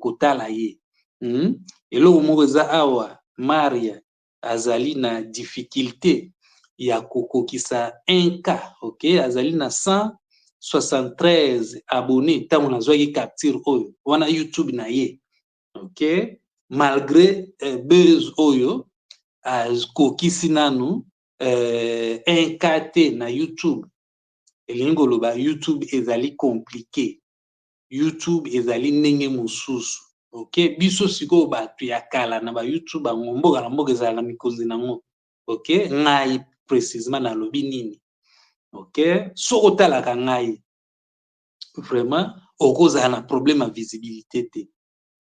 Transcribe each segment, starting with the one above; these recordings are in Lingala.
kotala ye hum eloko moko eza awa maria azali na difficulte ya kokokisa un k ok azali na 173 abonne tango nazwaki capture oyo wana youtube na ye ok malgre buzz oyo akokisi nanu un k te na youtube elingi koloba youtube ezali complique YouTube ezali ndenge mosusu. Ok biso sikoyo batu ya kala na ba YouTube yango mboka na mboka ezalaka mikonzi na yango. Ok ngai precisement nalobi nini? Ok soki otalaka ngai vraiment okozala na problème ya visibilité te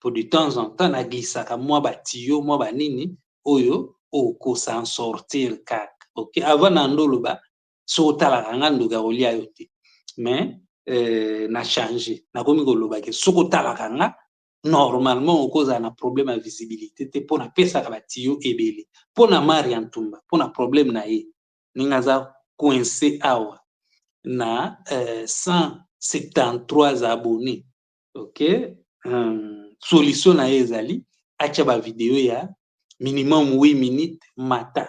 po de temps en temps na glissaka mwa ba tiyo mwa ba nini oyo oko s'en sortir kaka. Ok avant na ndoloba soki otalaka nga ndoki akolia yo te mais euh, na change nakomi koloba ke soki otalaka nga normalement okozala na problème ya visibilité te mpo napesaka batiyo ebele mpo na mari ya ntumba mpo na problème na ye ndenge aza coince awa na euh, 173 abonné ok um, solution na ye ezali atya bavideo ya minimum 8 minutes mata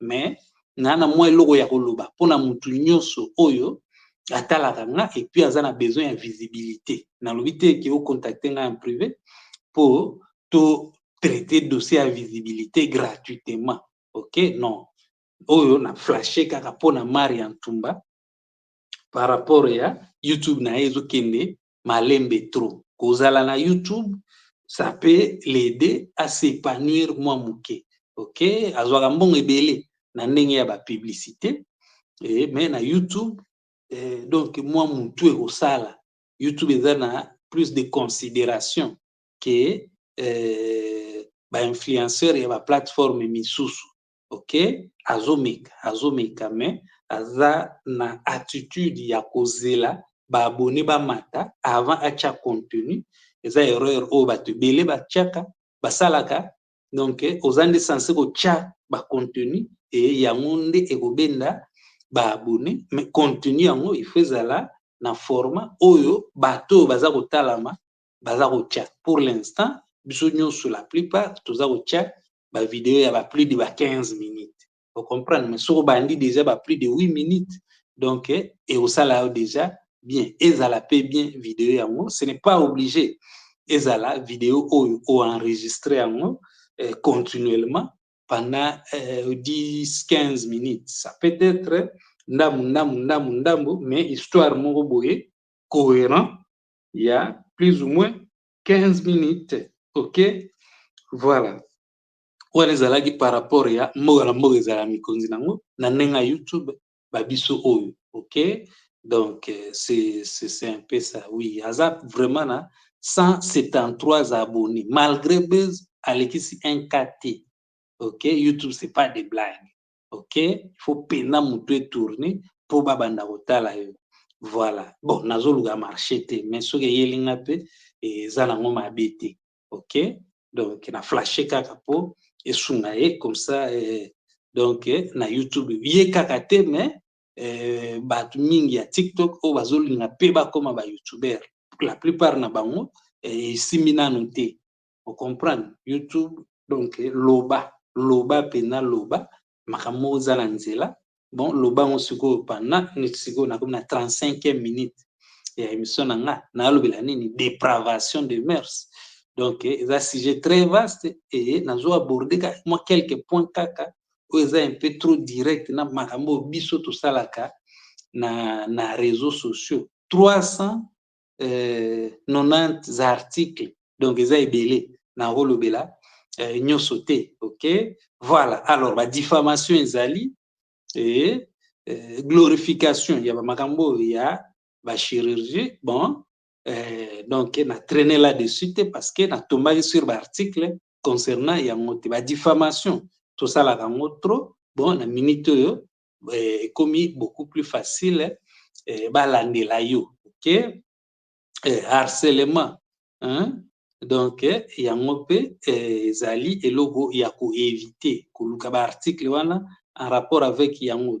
mais na na mwa eloko ya koloba mpo na motu nyonso oyo atalaka nga epuis aza na besoin ya visibilité nalobi te ke ocontacte nga en privé mpo to traite dossier ya visibilité gratuitement ok non oyo na flashe kaka mpo na mari ya ntumba par rapport ya youtube na ye ezokende malembe trop. Kozala na YouTube ça peut l'aider à s'epanouir mua muke ok azwaka mbongo ebele na ndenge ya ba publicite eh, mais na YouTube eh, donc mua mutu ekosala YouTube eza na plus de consideration que eh, ba influenceur ya ba plateforme misusu ok azomeka azomeka mais aza na attitude ya kozela ba abonne bamata avant atia contenu eza erreur oyo bato ebele batiaka basalaka donc oza nde sense kotia ba contenu e yango nde ekobenda ba abonne mais contenu yango il faut ezala na format oyo bato oyo baza kotalama baza kotia pour l'instant biso nyonso la plupart toza kotia ba video ya ba plus de ba 15 minutes o comprendre mais soki obandi déjà ba plus de 8 minutes donc ekosala yo déjà bien ezala mpe bien video yango ce n'est pas obligé ezala video oyo oenregistre yango eh, continuellement pendant eh, 10 15 minutes ça peut être ndambu ndambu ndambu ndambu mais histoire moko boye cohérent ya plus ou moins 15 minutes ok voilà wana ezalaki par rapport ya mboka na mboka ezala mikonzi nango na ndenge ya youtube ba biso oyo ok donc euh, c'est un peu ça oui aza vraiment na 173 abonnés malgré buzz alekisi un kt ok youtube c'est pas des blagues ok fo pena mutu e tourne po ba banda kotala yo voila bon nazo luka marche te mais soki eyeli nga pe eza na ngo mabe te ok donc na flashe kaka po esunga ye comme ça eh, donc eh, na youtube ye kaka te mais eh, bato mingi ya tiktok oyo bazolinga pe bakoma ba youtubeur la plupart na bango eh, esimbi nanu te o comprendre youtube donc loba loba pena loba makambo moko eza na nzela bon loba yango sikoyo panda neti sikoyo nakomi na 35e minute ya emission na nga nalobela nini depravation de mœurs donc eza sujet très vaste et nazo aborder kaka mwa quelques points kaka oyo eza un peu trop direct na makambo oyo biso tosalaka na, na réseaux sociaux 300 euh, 90 articles donc eza ebele nakolobela euh, nyonso te ok voilà alors ba diffamation ezali et euh, glorification ya bamakambo oyo ya bachirurgie bon euh, donc na traîne là dessus te parce que natombaki sur baarticle concernant yango te badifamation tosalaka yango trop bon na minute oyo eh, ekomi beaucoup plus facile eh, balandela yo ok eh, harcelement hein? donc eh, yango mpe eh, ezali eloko ya koevite koluka baarticle wana en rapport avec yango